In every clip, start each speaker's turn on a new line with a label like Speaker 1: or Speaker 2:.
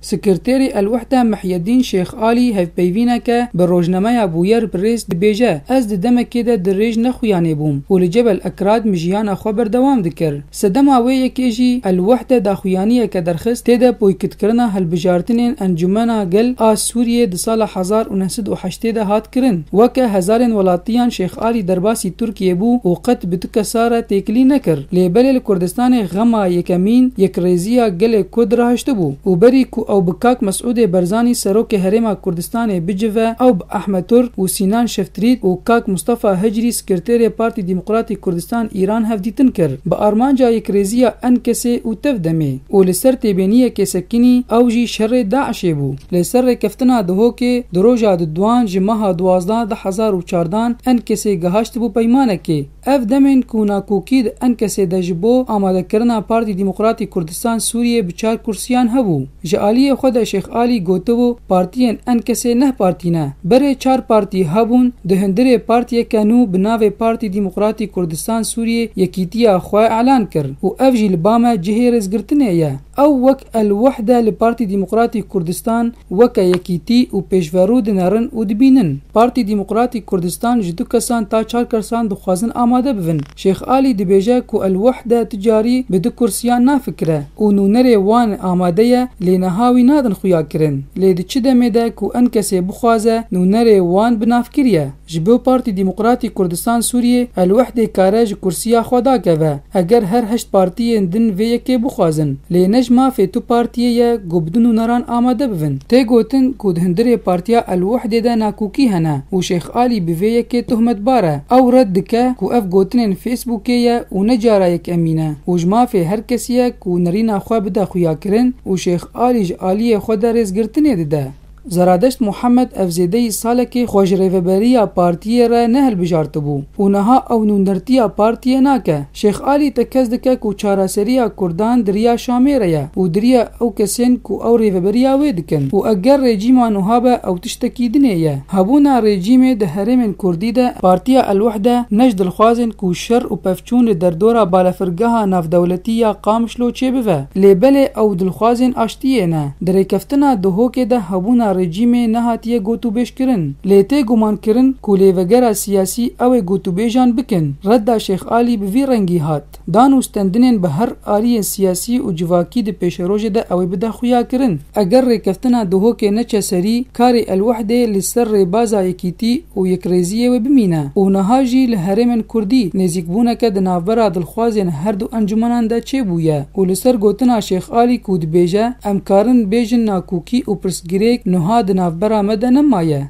Speaker 1: Sekreterê El-Wehda Mihyedîn Şêx Alî hevpeyvîneke bi rojnameya Bûyer Press dibêje, Ez di demekê de dirêj nexuyanê bûm û li Cebel Ekrad mijiyana xwe berdewam dikir. Sedema wê yekê jî El-Wehda daxuyaniyeke derxist tê de boykitkirina hilbijartinên Encûmena Gel a Sûriyê di sala hezar û neh sed û heştê de hat kirin. Weke hezarên welatiyan Şêx Alî derbasî Tirkiyê bû û qet bi tu kesa re têkilî nekir. Lê belê li Kurdistanê xema yekemîn yekrêziya gelê Kurd rahiştibû û berî ku ew bi kak Mesûdê Berzanî Serokê Herêma Kurdistanê bicive ew bi Ahmet Tur û Sînan Şeftrît û kak Mustafa Hicrî Skirtêrê Partî Demokratîk Kurdistan Îran hevdîtin kir bi armanca yekrêziya enkesê û tev demê û li ser têbêniyekê sekinî ew jî şerê DAIŞ'ê bû. Lê ser rêkeftina Dihokê di roja di duan ji meha duwazdeh du hezar û çar dan Enkesê gihaştibû peymanekê. Ev demên ku nakokî di Enkesê de ji bo amadekirina Partî Demokratî Kurdistan Sûriyê bi çar kursiyan hebû. Ji aliyê xwe de Şêx Alî gotibû partiyên Enkesê neh partî ne. Berê çar partî hebûn di hundirê partiyeke nû bi navê Partî Demokratî Kurdistan Sûriyê yekîtiya xwe elan kir û ev jî li ba me cihê rêzgirtinê ye. Ew wek El Wehde li Partî Demokratîk Kurdistan weke yekîtî û pêşverû dinerin û dibînin. Partî Demokratîk Kurdistan ji du kesan ta çar kersan dixwazin amade bivin. Şêx Alî dibêje ku El Wehde tu carî bi du kursiyan nafikire û nûnerê wan amade ye lê niha wî nadin xuya kirin. Lê di çi demê de ku enkesê bixwaze nûnerê wan bi navkir ye. Ji bo Partî Demokratîk Kurdistan Sûriyê elwehdê kare ji kursiya xwe dakeve. Eger her heşt partiyên din vê yekê bixwazin. Lê ne ji mafê tu partiyê ye ku bi du nûneran amade bibin. Tê gotin ku di hundirê partiya elwehdê de nakokî hene û Şêx Alî bi vê yekê tohmetbar e. Ew red dike ku ev gotinên Facebookê ye û ne cara yek emîn e û ji mafê her kesî ye ku nerîna xwe bide xuyakirin û Şêx Alî ji aliyê xwe de rêzgirtinê dide. Zeradeşt Muhammed ev zêdeyî salekê xwe ji rêveberiya partiyê re nehilbijartibû û niha ew nûnertiya partiyê nake. Şêx Alî tekez dike ku çareseriya kurdan di riya Şamê re ye û di riya ew kesên ku ew rêveberiya wê dikin û eger rejîma nuha be ew tiştekî dinê ye. Hebûna rejîmê di herêmên kurdî de Partiya El-Wehde ne ji dilxwazên ku şer û pevçûn li derdora balafirgeha navdewletî ya Qamişlo çêbive lê belê ew dilxwazên aştiyê ne. Di rêkeftina Duhokê de hebûna rejîmê nehatiye gotûbêjkirin, lê tê gumankirin ku lêvegera siyasî ew ê gotûbêjan bikin. Redda Şêx Alî bi vî rengî hat. Dan û stendinên bi her aliyên siyasî û civakî di pêşerojê de ew ê bide xuyakirin. Eger rêkeftina Duhokê neçe serî, karê Elwehdê li ser rêbaza Yekîtî, û yekrêziyê wê bimîne û niha jî li herêmên kurdî nêzîkbûneke di navbera dilxwazên her du encûmenan de çêbûye û li ser gotina Şêx Alî ku dibêje em karin bêjin nakokî û pirsgirêk nuha di navbera me de nemaye.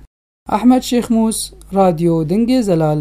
Speaker 1: Ahmet Şêxmûs, Radyo Dingê Zelal.